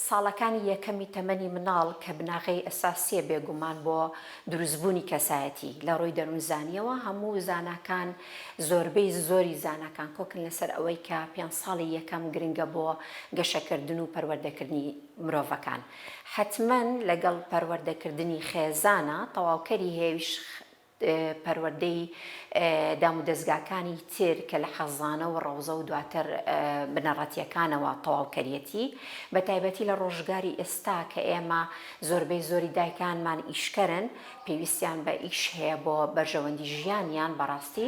ساڵەکانی یەکەمی تەمەنی مناڵ کە بناغەی ئەساسیە بێگومان بۆ دروست بوونی کەسایەتی لەڕووی دەروونزانیەوە هەموو زاناکان زۆربەی زۆری زاناکان کۆکن لەسەر ئەوەی کە پێنج ساڵی یەکەم گرنگە بۆ گەشەکردن و پەروەردەکردنی مرۆڤەکان حەتمەن لەگەڵ پەروەردەکردنی خێزانە تەواوکەری هێوش پەروەردەی دامودەزگاکانی تر کە لە خەزانە و ڕەوزە و دواتر بنەڕەتییەکانەوە تەواو کەریەتی، بە تایبەتی لە ڕۆژگاری ئێستا کە ئێمە زۆربەی زۆری دایکانمان ئیشکەرن، پێویستیان بە ئیش هەیە بۆ بەرژەوەندی ژیانیان، بەڕاستی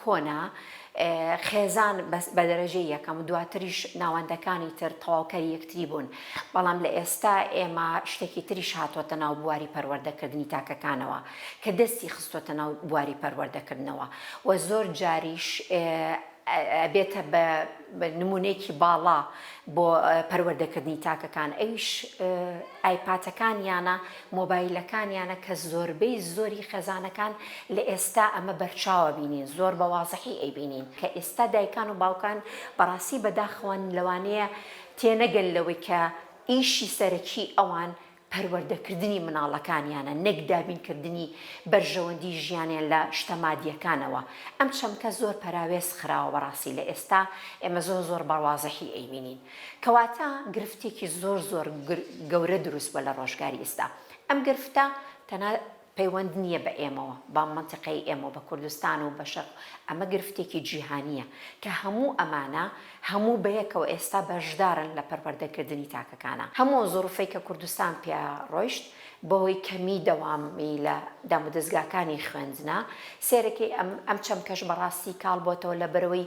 کۆنە، خێزان بە دەرەجەی یەکەم و دواتریش ناوەندەکانی تر تەواوکەری یەکتری بوون، بەڵام لە ئێستا ئێمە شتێکی تریش هاتۆتە ناو بواری پەروەردەکردنی تاکەکانەوە کە دەستی خستۆتە ناو بواری پەروەردەکردنەوە و زۆر جاریش ئەبێتە بە نمونەیەکی باڵا بۆ پەروەردەکردنی تاکەکان ئەویش ئایپاتەکانیانە مۆبایلەکانیانە کە زۆربەی زۆری خێزانەکان لە ئێستا ئەمە بەرچاوە بینین زۆر بە وازحی ئەیبینین کە ئێستا دایکان و باوکان بەڕاستی بەداخەوەن لەوانەیە تێنەگەن لەوەی کە ئیشی سەرەکی ئەوان پەروەردەکردنی مناڵەکانیانە نەک دابین کردنی بەرژەوەندی ژیانیان لە شتە مادیەکانەوە ئەم چەمکە زۆر پەراوێز خراوە بەڕاستی لە ئێستا ئێمە زۆر زۆر بەڕوازحی ئەیبینین کەواتە گرفتێکی زۆر زۆر گەورە دروست بوە لە ڕۆژگاری ئیستا ئەم گرفتە تەنها پەیوەند نیە بە ئێمەوە بە مەنتیقەی ئێمەوە بە کوردستان و بە شەرق ئەمە گرفتێکی جیهانیە کە هەموو ئەمانە هەموو بەیەکەوە ئێستا بەشدارن لە پەروەردە کردنی تاکەکانە هەموو ئەو زوڕفەی کە کوردستان پیا ڕۆیشت بەهۆی کەمی دەوامی لە دامودەزگاکانی خوێندنە سێرەکەی ئەم ئەم چەمکەش بەڕاستی کاڵ بۆتەوە لە بەرەوەی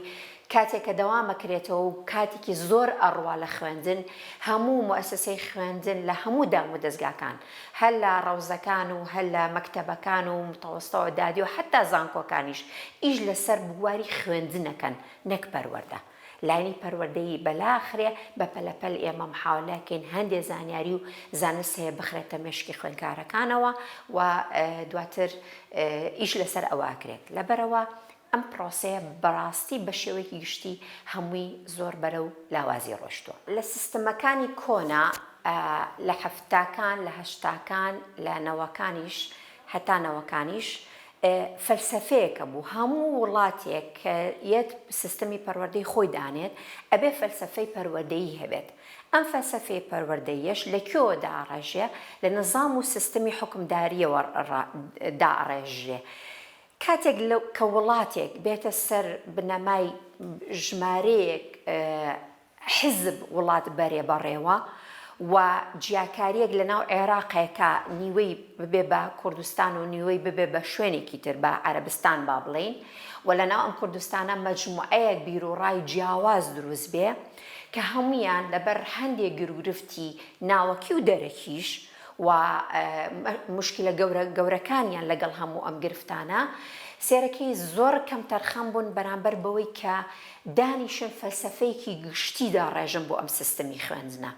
کاتێک کە دەوام ئەکرێتەوە و کاتێکی زۆر ئەڕوا لە خوێندن، هەموو موئەسەسەی خوێندن لە هەموو دامودەزگاکان، هەر لە ڕەوزەکان و هەر لە مەکتەبەکان و متەوەستە و دادی و حەتا زانکۆکانیش ئیش لە سەر بواری خوێندن ئەکەن نەک پەروەردە. لاینی پەروەردەیی بەلا ئەخرێ، بە پەلە پەل ئێمە محاولە ئەکەین هەندێ زانیاری و زانست هەیە بخرێتە مێشکی خوێندکارەکانەوە و دواتر ئیش لە سەر ئەوە ئەکرێت. لەبەرئەوە ئەم پرۆسەیە بەڕاستی بە شێوەیەکی گشتی هەمووی زۆر بەرەو لاوازی ڕۆشتووە. لە سیستمەکانی کۆنا لە حەفتاکان، لە هەشتاکان، لە نەوەکانیش هەتا نەوەکانیش فەلسەفەیەکە بوو هەموو وڵاتێک کە یەت سیستمی پەروەردەی خۆی دانێت ئەبێ فەلسەفەی پەروەدەیی هەبێت ئەم فەلسەفەی پەروەردەیەش لە کوێوە داڕێژێ لە نظام و سیستمی حوکمداریەوە داڕێژرێ کاتێک کە وڵاتێک بێتە سەر بنەمای ژمارەیەک حیزب وڵات بەرێ بەڕێوە و جیاکاریەک لە ناو عێراقێکا نیوەی ببێ بە کوردستان و نیوەی ببێ بە شوێنێکی تر بە عەرەبستان با بڵێین و لە ناو ئەم کوردستانە مەجموعەیەک بیروڕای جیاواز دروست بێ کە هەموویان لەبەر هەندێ گرو گرفتی ناوەکی و دەرەکیش و موشکیلە گەورە گەورەکانیان لەگەڵ هەموو ئەم گرفتانە سێرەکی زۆر کەمتەرخەم بوون بەرامبەر بەوەی کە دانیشن فەلسەفەیەکی گشتی داڕێژن بۆ ئەم سیستمی خوێندنە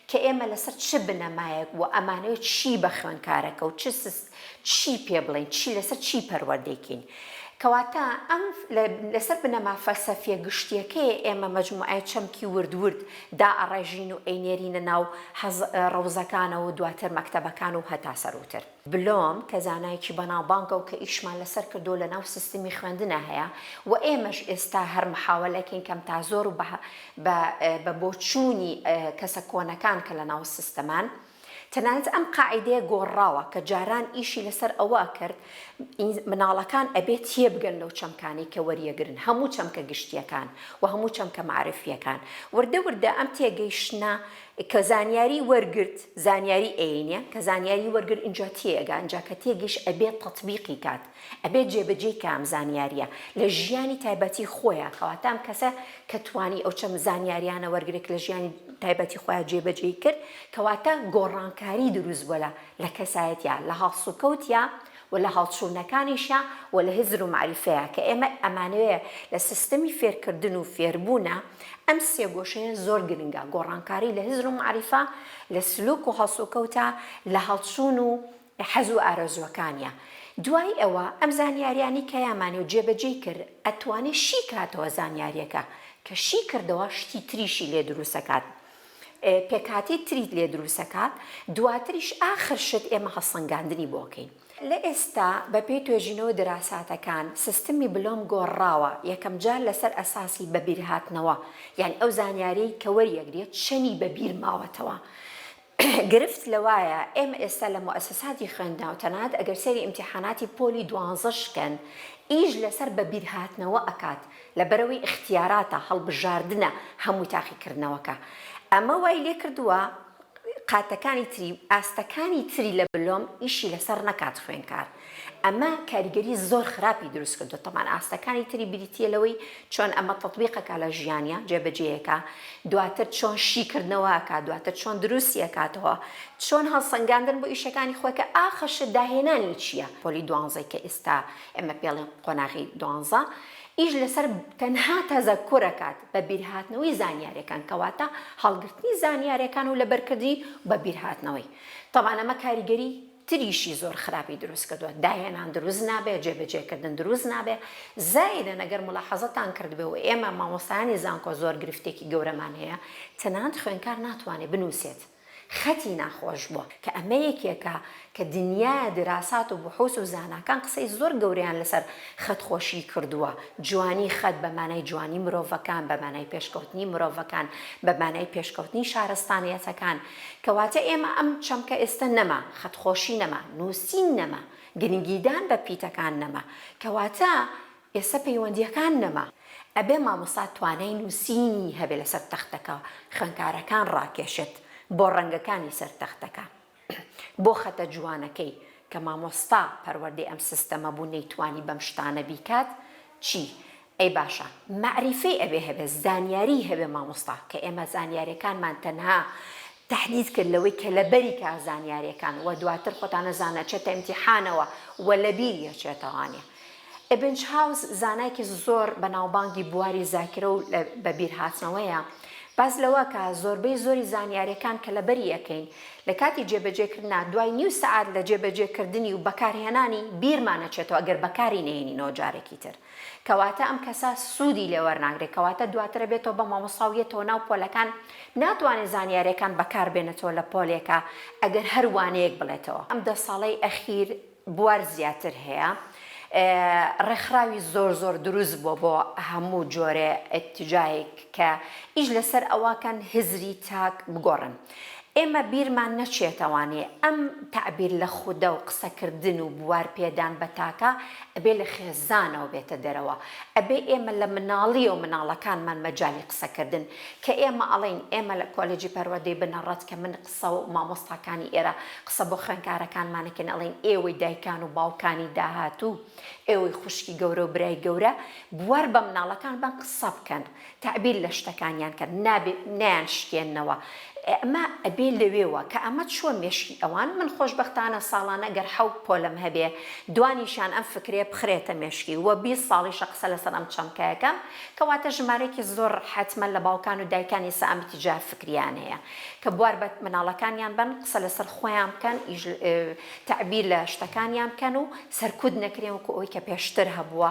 کە ئێمە لەسەر چ بنەمایەک و ئەمانەوێت چی بە خوێنکارەکە و چ چی پێ بڵێین، چی لەسەر چی پەروەردەی کەین. کەواتە ئەم لەسەر بنەما فەلسەفیە گشتیەکەیە ئێمە مەجموعەی چەمکی ورد ورد دائەڕێژین و ئەینێرینە ناو ڕەوزەکانەوە و دواتر مەکتەبەکان و هەتا سەرووتر. بلۆم کە زانایەکی بەناوبانگە و کە ئیشمان لەسەر کردووە لە ناو سیستمی خوێندنا هەیە و ئێمەش ئێستا هەر محاوەلە کەین کەم تا زۆر و بە بۆچوونی کەسە کۆنەکان کە لە ناو سیستمان تەنانەت ئەم قاعیدەیە گۆڕراوە کە جاران ئیشی لەسەر ئەوە ئەکرد مناڵەکان ئەبێ تێبگەن لەو چەمکانەی کە وەریەگرن هەموو چەمکە گشتیەکان و هەموو چەمکە مەعرفیەکان وردە وردە ئەم تێگەیشتنە کە زانیاری وەرگرت زانیاری ئەینە کە زانیاری وەرگر ئینجا تێئەگا ئینجا کە تێگەیشت ئەبێ تەتبیقی کات ئەبێت جێبەجێی کە ئەم زانیاریە لە ژیانی تایبەتی خۆیە کەواتە ئەم کەسە کە توانی ئەو چەم زانیاریانە وەرگێک لە ژیانی تایبەتی خۆیان جێبەجێی کرد کەواتە گۆڕانکاری دروست بۆ لە لە کەسایەتە لە هاڵسوکەوتە و لە هەڵچوونەکانیشە و لە هزر و معریفەیە کە ئێمە ئەمانەیە لە سیستەمی فێرکردن و فێربوونە ئەم سێگۆشەیە زۆر گرنگە گۆڕانکاری لە هزر و معریفە لە سلوک و هەڵسوکەوتە لە هەڵچوون و حەز و ئارەزووەکانیە دوای ئەوە ئەم زانیاریانەی کە یامانێ و جێبەجێی کرد ئەتوانێ شی کاتەوە زانیاریەکە کە شی کردەوە شتی تریشی لێ دروسەکات پێکهاتی تریت لێ دروسەکات دواتریش ئاخر شت ئێمە هەڵسەنگاندنی بۆ کەین لە ئێستا بە پێی توێژینەوە دراساتەکان سیستمی بلۆم گۆڕاوە یەکەم جار لەسەر ئەساسی بەبیرهاتنەوە یان ئەو زانیاریەی کە وەریەگرێت چەنی بەبیر ماوەتەوە گرفت لەوایە ئێمە ئێستا لە موئەسەساتی خوێندنەوە تەنانەت ئەگەر سەیری ئیمتیحاناتی پۆلی دوانزەش کەن ئیش لەسەر بەبیرهاتنەوە ئەکات لەبەرئەوەی ئیختیاراتە هەڵبژاردنە هەموو تاقیکردنەوەکە ئەمە وای لێکردووە قاتەکانی تری ئاستەکانی تری لە بلۆم ئیشی لەسەر نەکات خوێنکار ئەمە کاریگەری زۆر خراپی دروست کردووە، تەبان ئاستەکانی تری بریتییە لەوەی چۆن ئەمە تەتبیق ئەکا لە ژیانیا، جێبەجێی ئەکا، دواتر چۆن شیکردنەوە ئەکا، دواتر چۆن دروستی ئەکاتەوە، چۆن هەڵسەنگاندن بۆ ئیشەکانی خۆی کە ئاخر شت داهێنانی چییە؟ پۆلی دوانزەی کە ئیستا ئێمە پێڵێن قۆناغی دوانزە ئیش لەسەر تەنها تەزەکور ئەکات، بە بیرهاتنەوەی زانیارەکان، کەواتە هەڵگرتنی زانیارەکان و لەبەرکردنی بە بیرهاتنەوەی، تەبان ئەمە کاریگەری تریشی زۆر خراپی دروست کردوە داهێنان دروست نابێ جێ بەجێ کردن دروست نابێ زایدەن ئەگەر مولاحەزەتان کردبێ و ئێمە مامۆستایانی زانکۆ زۆر گرفتێکی گەورەمان هەیە تەنانەت خوێنکار ناتوانێ بنوسێت خەتی ناخۆش بوە کە ئەمە یەکێکە کە دنیا دراسات و بحوس و زاناکان قسەی زۆر گەورەیان لەسەر خەت خۆشی کردوە جوانی خەت بە مانای جوانی مرۆڤەکان بە مانای پێشکەوتنی مرۆڤەکان بە مانای پێشکەوتنی شارەستانیەتەکان کەواتە ئێمە ئەم چەمکە ئێستە نەما، خەتخۆشی نەما، نووسین نەما، گرنگیدان بە پیتەکان نەما، کەواتە ئێستە پەیوەندییەکان نەما. ئەبێ مامۆستا توانای نووسینی هەبێ لەسەر تەختەکە خوێندکارەکان ڕاکێشێت بۆ ڕەنگەکانی سەر تەختەکە، بۆ خەتە جوانەکەی، کە مامۆستا پەروەردەی ئەم سیستەمە بوو نەیتوانی بەم شتانە بیکات، چی ئەی باشە مەعریفەی ئەوێ هەبێ زانیاری هەبێ مامۆستا کە ئێمە زانیارێکانمان تەنها تەحدید کرد لەوەی کە لەبەری کا زانیارێکان وە دواتر خۆتانە زانە چێتە امتیحانەوە وە لەبیر یەچێتەوانێ ئبنچ هاوس زانایکی زۆر بەناوبانگی بواری زاکرە و بە بیر هاتنەوەیە باس لەوە کە زۆربەی زۆری زانیارێکان کە لەبەری ئەکەین لە کاتی جێبەجێکردنا دوای نیو سەعات لە جێبەجێکردنی و بەکارهێنانی بیرمانە چێتەوە گەر بەکاری نەهێنینەوە جارێکی تر کەواتە ئەم کەسە سودی لێ وەرناگرێت کەواتە دواتر ئەبێتەوە بە مامۆستا و یەتەوە ناو پۆلەکان ناتوانێت زانیاریەکان بەکار بێنێتەوە لە پۆلێکا ئەگەر هەر وانەیەک بڵێتەوە. ئەم دە ساڵەی ئەخیر بوار زیاتر هەیە ڕێکخراوی زۆر زۆر دروست بوە بۆ هەموو جۆرێ ئیتجایک کە ئیش لەسەر ئەوە کەن هزری تاک بگۆڕن. ئێمە بیرمان نەچێتەوانێ ئەم تەعبیر لە خودە و قسەکردن و بوار پێدان بە تاکە ئەبێ لە خێزانەوە بێتە دەرەوە ئەبێ ئێمە لە مناڵی و مناڵەکانمان مەجالی قسەکردن کە ئێمە ئەڵێین ئێمە لە کۆلێجی پەروەردەی بنەڕەت کە من قسە و مامۆستاکانی ئێرە قسە بۆ خوێنکارەکانمان ئەکەین ئەڵێین ئێوەی دایکان و باوکانی داهاتوو ئێوەی خوشکی گەورە و برای گەورە بوار بە مناڵەکانبان قسە بکەن تەعبیر لە شتەکانیان کەن نابێ نەیان شکێننەوە ئەمە ئەبێ لەوێوە کە ئەمە چووە مێشکی ئەوان من خۆشبەختانە ساڵانە گەر حەوت پۆلم هەبێ دوانیشان ئەم فکرەیە بخرێتە مێشکی وە بیست ساڵیشە قسە لەسەر ئەم چەمکە ئەکەم کەواتە ژمارەیەکی زۆر حەتمەن لە باوکان و دایکان ئیسە ئەم تجار فکریان هەیە کە بوار بە مناڵەکانیان بەن قسە لەسەر خۆیان بکەن ئیش تەعبیر لە شتەکانیان بکەن و سەرکوت نەکرێن وەکو ئەوەی کە پێشتر هەبووە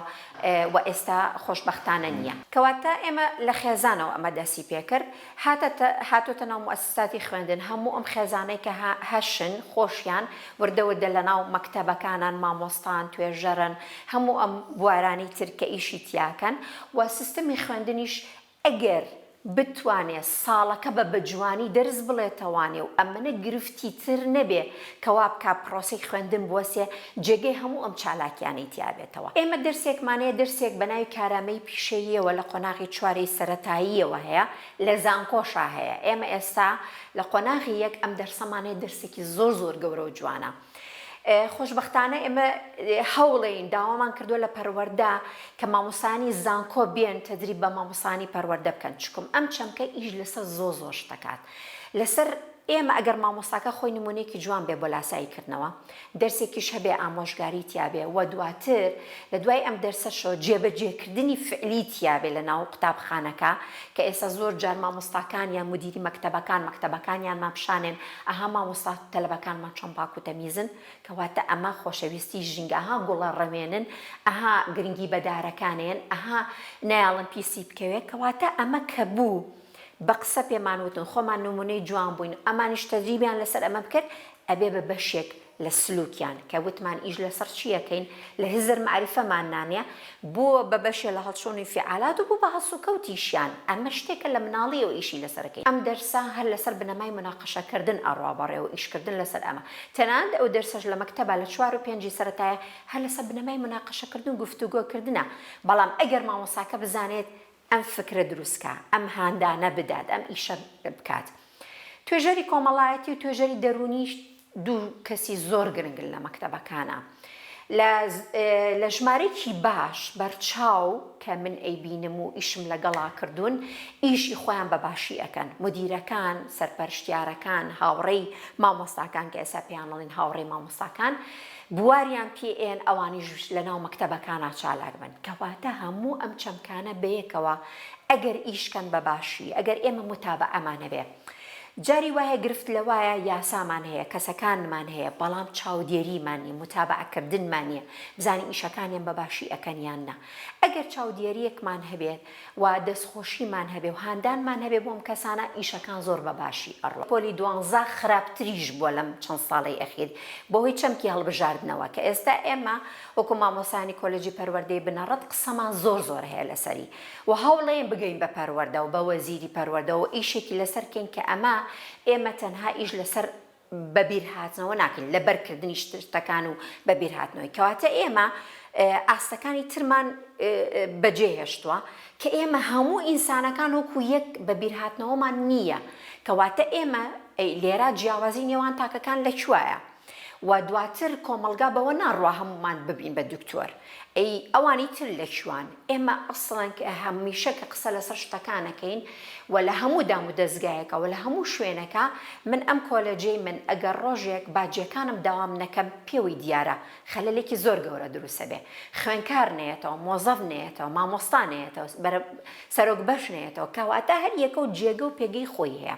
وە ئێستا خۆشبەختانە نیە. کەواتە ئێمە لە خێزانەوە ئەمە دەسی پێکرد هاتەتە هاتۆتە ناو موئەسساتی خوێندن هەموو ئەم خێزانەی کە هە هەشن خۆشیان وردە وردە لە ناو مەکتەبەکانان مامۆستان توێژەرن هەموو ئەم بوارانی تر کە ئیشی تیاکەن وە سیستمی خوێندنیش ئەگەر بتوانێ ساڵەکە بە بەجوانی دەرس بڵێتەوانێ و ئەمەنە گرفتی تر نەبێ کە وا بکا پرۆسەی خوێندن بوەسێ جێگەی هەموو ئەم چالاکیانەی تیا بێتەوە. ئێمە دەرسێکمان هەیە دەرسێک بە ناوی کارامەیی پیشەییەوە لە قۆناغی چوارەی سەرەتاییەوە هەیە لە زانکۆشا هەیە ئێمە ئێستا لە قۆناغی یەک ئەم دەرسەمان هەیە دەرسێکی زۆر زۆر گەورە و جوانە. خۆشبەختانە ئێمە هەوڵێین داوامان کردووە لە پەروەردە کە مامۆسانی زانکۆ بێن تدریب بە مامۆسانی پەروەردە بکەن چکم ئەم چەمکە ئیش لەسەر زۆ زۆر شتەکات لەسەر ئێمە ئەگەر مامۆساکە خۆی نمونێکی جوان بێ بۆ لاسایی کردنەوە دەرسێکیش هەبێ ئامۆژگاری تیاابێ و دواتر لە دوای ئەم دەرسەشەوە جێبەجێکردنی فعلی تیاابێ لە ناو قوتابخانەکە کە ئێستا زۆر جار مامۆستاکان یان مدیری مەکتتەبەکان مەکتتەبەکانیان ماپشانێن ئەها مامۆستا تەلەبەکانمان چۆن پاک و تەمیزن کەواتە ئەمە خۆشەویستی ژینگە ئەها گوڵە ڕەوێنن ئەها گرنگی بە دارەکانێن ئەها نایەڵن پیسی بکەوێ کەواتە ئەمە کە بوو بە قسە پێمان وتن خۆمان نمونەی جوان بووین ئەمانیش تەدریبیان لەسەر ئەمە بکرد ئەبێ بە بەشێک لە سلوکیان کە وتمان ئیش لەسەڕ چی ئەکەین لە هزر مەعریفەمان نانە بۆ بە بەشێ لە هەڵچوون ئینفیعالات و بۆ بە هەڵسوکەوتیشیان ئەمە شتێکە لە مناڵیەوە ئیشی لەسەر ئەکەین ئەم دەرسە هەر لەسەر بنەمای مناقەشە کردن ئەڕوا بەڕێ و ئیش کردن لەسەر ئەمە تەنانەت ئەو دەرسەش لە مەکتەبا لە چوار و پێنجی سەرەتایە هەر لەسەر بنەمای مناقەشە کردن و گفتوگۆ کردنە بەڵام ئەگەر مامۆستاکە بزانێت ئەم فکرە دروستکا، ئەم هاندانە بدات، ئەم ئیشە بکات. توێژەری کۆمەڵایەتی و توێژەری دەروونیش دوو کەسی زۆر گرنگن لە مەکتەبەکانا. لە لە ژمارەیەکی باش بەرچاو کە من ئەیبینم و ئیشم لەگەڵا کردوون، ئیشی خۆیان بە باشی ئەکەن. مودیرەکان، سەرپەرشتیارەکان، هاوڕێی مامۆستاکان کە ئێستا پێیان ئەڵێن هاوڕێی مامۆستاکان، بواریان پی ئێن ئەوانیش لە ناو مەکتەبەکانا چالاک بن کەواتە هەموو ئەم چەمکانە بەیەکەوە ئەگەر ئیش کەن بە باشی ئەگەر ئێمە موتابەعەمان هەبێ جاری وایە گرفت لەوایە یاسامان هەیە کەسەکانمان هەیە بەڵام چاودێریمان نیە موتابەعە کردنمان نیە بزانین ئیشەکانیان بە باشی ئەکەن یان نا ئەگەر چاودێریەکمان هەبێت و دەستخۆشیمان هەبێ و هاندانمان هەبێ بۆ ئەم کەسانە ئیشەکان زۆر بە باشی ئەڕۆن. پۆلی دوانزە خراپتریش بووە لەم چەند ساڵەی ئەخیر بەهۆی چەمکی هەڵبژاردنەوە کە ئێستا ئێمە وەکو مامۆستایانی کۆلێجی پەروەردەی بنەڕەت قسەمان زۆر زۆر هەیە لەسەری و هەوڵەین بگەین بە پەروەردە و بە وەزیری پەروەردەوە و ئیشێکی لەسەر کەین کە ئەمە ئێمە تەنها ئیش لەسەر بەبیرهاتنەوە ناکەین لەبەر کردنی شتەکان و بەبیرهاتنەوەی کەواتە ئێمە ئاستەکانی ترمان بەجێ هێشتووە کە ئێمە هەموو ئینسانەکان وەکو یەک بەبیرهاتنەوەمان نییە کەواتە ئێمە لێرا جیاوازی نێوان تاکەکان لە کوایە و دواتر کۆمەلگا بەوە ناڕوا هەمومان ببین بە دکتۆر ئەی ئەوانی تر لە کوان ئێمە ئەسڵەن هەمیشە کە قسە لەسەر شتەکان ئەکەین و لە هەموو دامودەزگایەکە و لە هەموو شوێنەکە من ئەم کۆلێجەی من ئەگەر ڕۆژێک باجیەکانم داوام نەکەم پێوەی دیارە خەلەلێکی زۆر گەورە دروست ئەبێ خوێنکار نەیەتەوە مۆزەف نەیەتەوە مامۆستا نەیەتەوە بەرە سەرۆک بەش نەیەتەوە کەواتە هەر یەکە و جێگە و پێگەی خۆی هەیە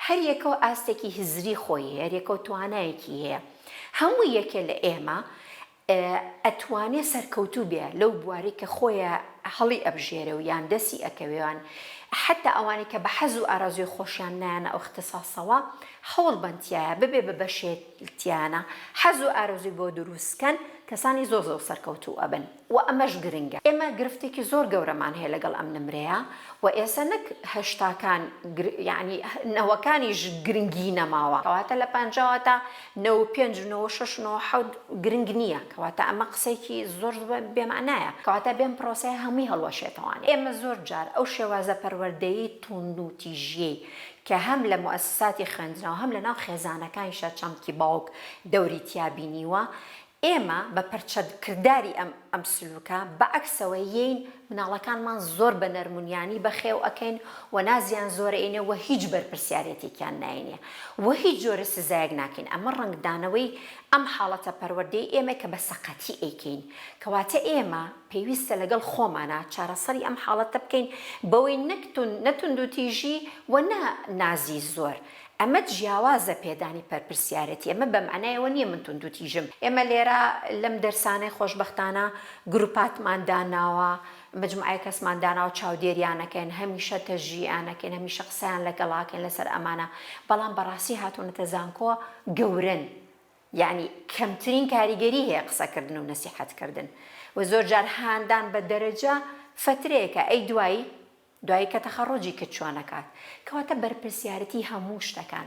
هەر یەکە و ئاستێکی هزری خۆی هەیە هەر یەکە و توانایەکی هەیە هەموو یەکێ لە ئێمە ئەتوانێ سەرکەوتوو بێ لەو بوارەی کە خۆێ هەڵی ئەبژێرێ و یان دەسی ئەکەوێ یان حەتا ئەوانەی کە بە حەز و ئارەزووی خۆشیان نایەنە ئەو ئختساسەوە هەوڵ بەن تیایا ببێ بە بەشێ تیانە حەز و ئارەزووی بۆ درووست کەن کەسانی زۆر زۆر سەرکەوتوو ئەبن و ئەمەش گرنگە ئێمە گرفتێکی زۆر گەورەمان هەیە لەگەڵ ئەم نمرەیە و ئێسە نەک هەشتاکان یانی نەوەکانیش گرنگی نەماوە کەواتە لە پەنجاوە تا نۆ و پێنج و نۆ و شەش و نۆ و حەوت گرنگ نییە، کەواتە ئەمە قسەیەکی زۆر بێ مەعنایە، کەواتە بێم پرۆسەیە هەمووی هەڵوەشێتەوانێ. ئێمە زۆر جار ئەو شێوازە پەروەردەی توندوتیژیەی کە هەم لە موئەسساتی خوێندنەوە هەم لەناو خێزانەکانیشا چەمکی باوک دەوری تیا بینیوە، ئێمە بە پەرچەد کرداری ئەم ئەم سلوکە بە عەکسەوە یین مناڵەکانمان زۆر بە نەرمونیانی بە خێو ئەکەین و نازیان زۆر ئەینێ وە هیچ بەرپرسیارێتیکیان ناینێ وە هیچ جۆرە سزایەک ناکەین ئەمە ڕەنگ دانەوەی ئەم حاڵەتە پەروەردەی ئێمەی کە بە سەقەتی ئەیکەین کەواتە ئێمە پێویستە لەگەڵ خۆمانا چارەسەری ئەم حاڵەتە بکەین بەوەی نەک توند نە توندوتیژی وە نە نازی زۆر ئەمە جیاوازە پێدانی پەرپرسیارێتی، ئەمە بە مەعنای ئەوە نییە من توندوتیژم، ئێمە لێرە لەم دەرسانەی خۆشبەختانە گروپاتمان داناوە، مەجموعەیەک کەسمان داناوە چاودێریانەکەین، هەمیشە تەشجیعیانەکەین، هەمیشە قسەیان لەگەڵ ئەکەین لەسەر ئەمانە، بەڵام بەڕاستی هاتوونەتە زانکۆ گەورەن، یەعنی کەمترین کاریگەری هەیە قسەکردن و نەسیحەتکردن و زۆرجار هاندان بە دەرەجە فەترەیەکە ئەی دوایی؟ دوایی کە تەخەڕوجی کرد چوان ئەکات کەواتە بەرپرسیارەتی هەموو شتەکان.